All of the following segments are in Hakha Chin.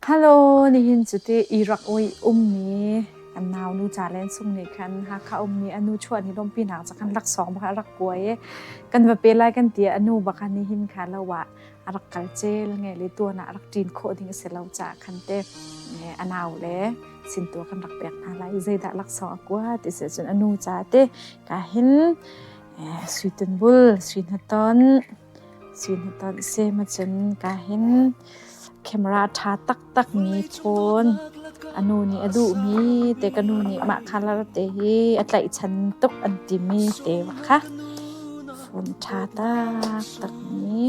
Hello, nihin cuti Iraq oi ummi kan naunu ca len sung nih khan Hakha ummi anu chuan hi lawmpi nak ca kan laksawng bak a rak kuai i kan va pe lai kan ti i anu bak a nihin kha lo ah a rak kal cel nge le tuan ah a rak ṭin khawh ding a si lo caah khan te nge a nau le sintua kan rak pek hna lai i zeidah laksawng a kua ti si cun anu ca te ka hin eh, sui tunbul, sui hnaton, Sihnatanh semacun kaa hin camera ṭha taktak mi ṭhawn a nu nih a duhmi te ka nu nih mah colour te hi a tlaihchan tuk an timi te bak kha fun ṭha taktak mi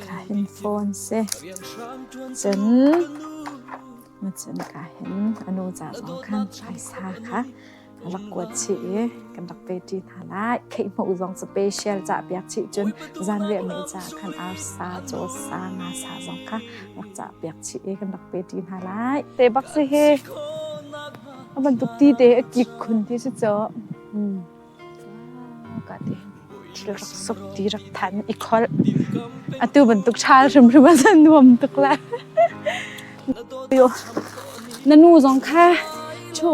kaa hin fawn seh cun macun kaa hin a nu ca zong khan phaisa kha rak kuat chih i kan rak pe ṭi hna lai kheikhmuh zong special cah piak chih cun zanriah ni ca khan arsa caw sa nga sa zong kha rak cah piak chih i kan rak pe ṭi hna lai te bak si he a bantuk ti te a kik khun ti si chaw ka te Rak ti rak thanh i kholh. Atu bantuk ṭhal hrimhrim a san nuam tuk le. Na nu zong kha ṭhu.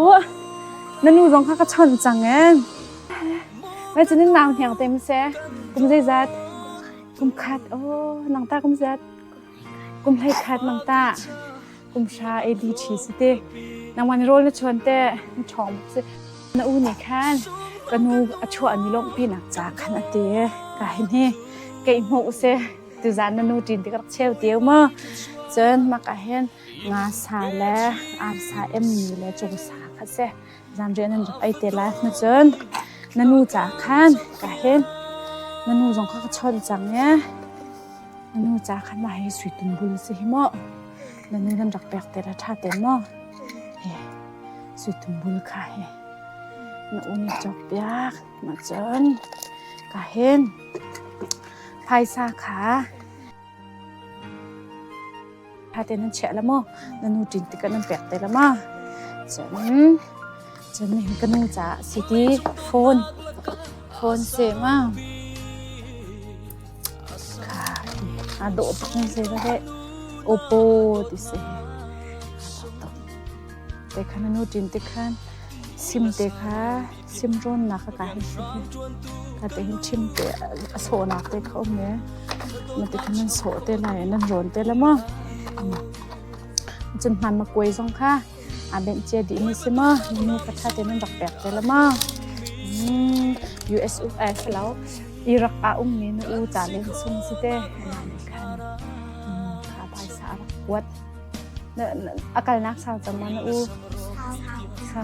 Na nu zong kha ka chawnh cang eh. Mai cunin nau hniang tem se. Kum zeizat? Kum khat. Oh, nang ta kum zat. Kum hleikhat nang tah kum hra ABT si ti. Nangwan rol na chuan te na ṭhawng si. Na u nih khan ka nu a chuah ni lawng pi nak ca khan a ti. Ka hi ni kei hmu se tu zan na nu ṭin ti rak cheu tieu mo. Cun maka hin nga sa le ar sa em ni le cung sa kha se. Zamriah nan rak ei te lai. Nachun na nu ca khan ka hin na nu zong kha ka chawn cang e. Na nu ca khan mah hi suitun bul si hi maw. Na nu nan rak pek te la tha ten maw. He suitun bul kha hi na u nih chok piak nachun ka hin phaisa kha Ṭhate nan chiah la maw? Na nu ṭin tikah nan pek te la ma? Cun, cun nihin ka nu caah si ti phone, phone se ma? Kai, a dawh tuk nan se la he. Oppo ti se. Te khan na nu ṭin tikhan sim te kha Simrawnnak ka kai ka ti him te a sawhnak te kha um ee. Na ti khan nan sawh te lai, nan rawn te la maw. Cun hman ma kuai zong kha aa benhcia dih mi si maw. Mi ka tha te nan rak pek te la maw. US uk ai salo. Iraq a um mi nu u ta len sun si te. Na ni khan kha bai sa kuat. Akal nak sa chama na u. Sa.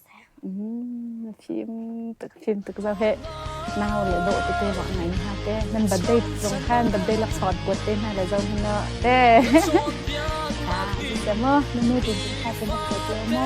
Na fim tuk, fim tuk zau he. Nau le dawh tete bak ngai ni ha te. Nan birthday zong khan birthday lak sawt buat te na le zong na te. Ta, bisa mo, na nu tu kha te na te mo.